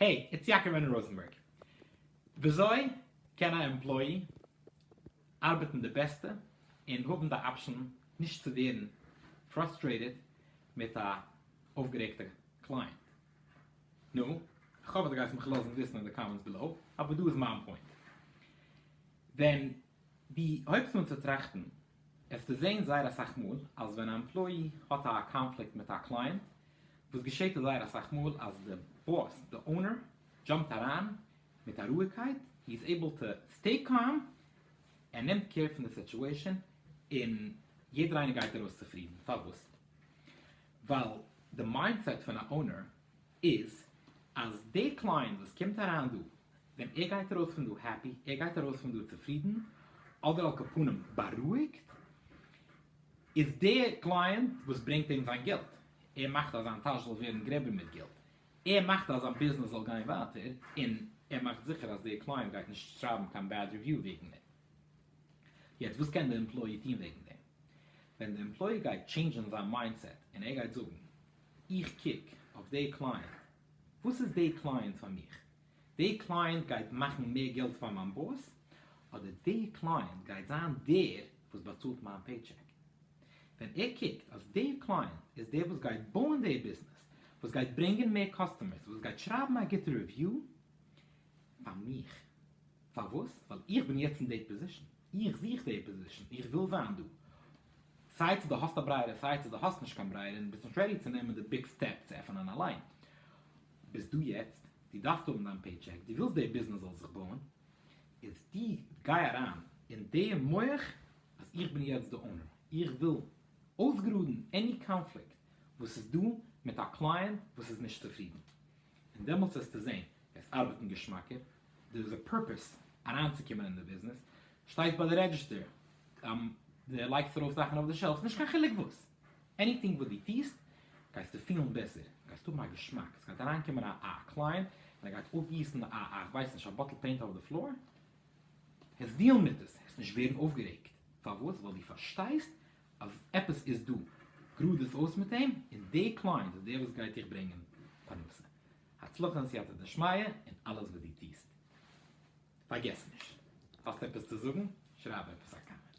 העי, איטס יעקב און ראזענבערג. וויאזוי קען א עמפלאי ארבעטן די בעסטע און האבן די אפשן נישט צו ווערן פראסטרעיטעד מיט א אויפגערעגטע קלייענט? נו, כ'האף אז דו גייסט מיך לאזן וויסן אין די קאמענטס בעלאו, אבער דא איז מיין פוינט. ווען דו הויבסט אן צו טראכטן, וועסטו זען זייער אסאך מאל אז ווען א עמפלאי האט א קאנפליקט מיט א קלייענט, וואס געשעהט זייער אסאך מאל אז די באס, די אונער, דזשאמפט אריין מיט א רואיגקייט, הי איז עיבל טו סטעי קאם, ער נעמט קער פון די סיטועשאן, און יעדער איינער גייט ארויס צופרידן, פארוואס? ווייל די מיינדסעט פון א אונער איז אז דער קליינט וואס קומט אריין דא, ווען ער גייט ארויס פון דא העפי, ער גייט ארויס פון דא צופרידן, אדער על כל פנים בארואיגט, איז דער קליינט וואס ברענגט אים זיין געלט, ער מאכט אז זיין טאש זאל ווערן גרעבער מיט געלט, ער מאכט אז זיין ביזנעס זאל גיין ווייטער, און ער מאכט זיכער אז דער קליינט גייט נישט שרייבן קיין בעד ריוויו וועגן דעם. יעצט וואס קען די עמפלאי טון וועגן דעם? ווען די עמפלאי גייט טשעינדזשען זיין מיינדסעט און ער גייט זאגן איך קוק אויף דעי קלייענט, וואס איז דעי קלייענט פאר מיך? דעי קלייענט גייט מאכן מער געלט פאר מיין באס? אדער דעי קלייענט גייט זיין דער וואס באצאלט מיין פעיטשעק? ווען ער קוקט אז דעי קלייענט איז דער וואס גייט בויען דעי ביזנעס, וואס גייט ברענגען מער קאסטומערס, וואס גייט שרייבן א גוטע ריוויו פאר מיך, פארוואס? ווייל איך בין יעצט אין דעי פאזישן, איך זוך דעי פאזישן, איך וויל זיין דא, סיי צו דו האסט א ברייער סיי צו דו האסט נישט קיין ברייער און ביסט נישט רעדי צו נעמען די ביג סטעפ צו עפענען אליין ביסט דא יעצט, דו דארפסט האבן דיין פעי טשעק, דו ווילסט די ביזנעס זאל זיך בויען, איז דו גיי אריין אין די מח אז איך בין יעצט די אונער, איך וויל אויסגראדן עני קאנפליקט וואס איז דא מיט א קלייענט וואס איז נישט צופרידן, און דעמאלטס וועסטו זען עס ארבעטן געשמאקער, דער איז א פורפעס אריינצוקומען אין די ביזנעס, שטייסט ביי די רעדזשיסטער די לייגסט ארויף זאכן אויף די שעלפס נישט קיין חילוק וואס, עניטינג וואס די טיסט גייסטו פילן בעסער, גייסט האבן א געשמאק, עס גייט אריינקומען א א קלייענט און ער גייט אפגיסן א א כ'ווייס נישט א באטל פעינט אויף די פלאר, העסט דיעלן מיט עס, העסט נישט ווערן אויפגערעגט, פארוואס? ווייל די פארשטייסט אז עפעס איז דא, גראד עס אויס מיט אים, און די קלייענט איז דער וואס גייט דיך ברענגען פרנסה, הצלחה און סייעתא דשמיא אין אלעס וואס די טיסט. פארגעס נישט, האסט עפעס צו זאגן? שרייב עפעס א קאמענט.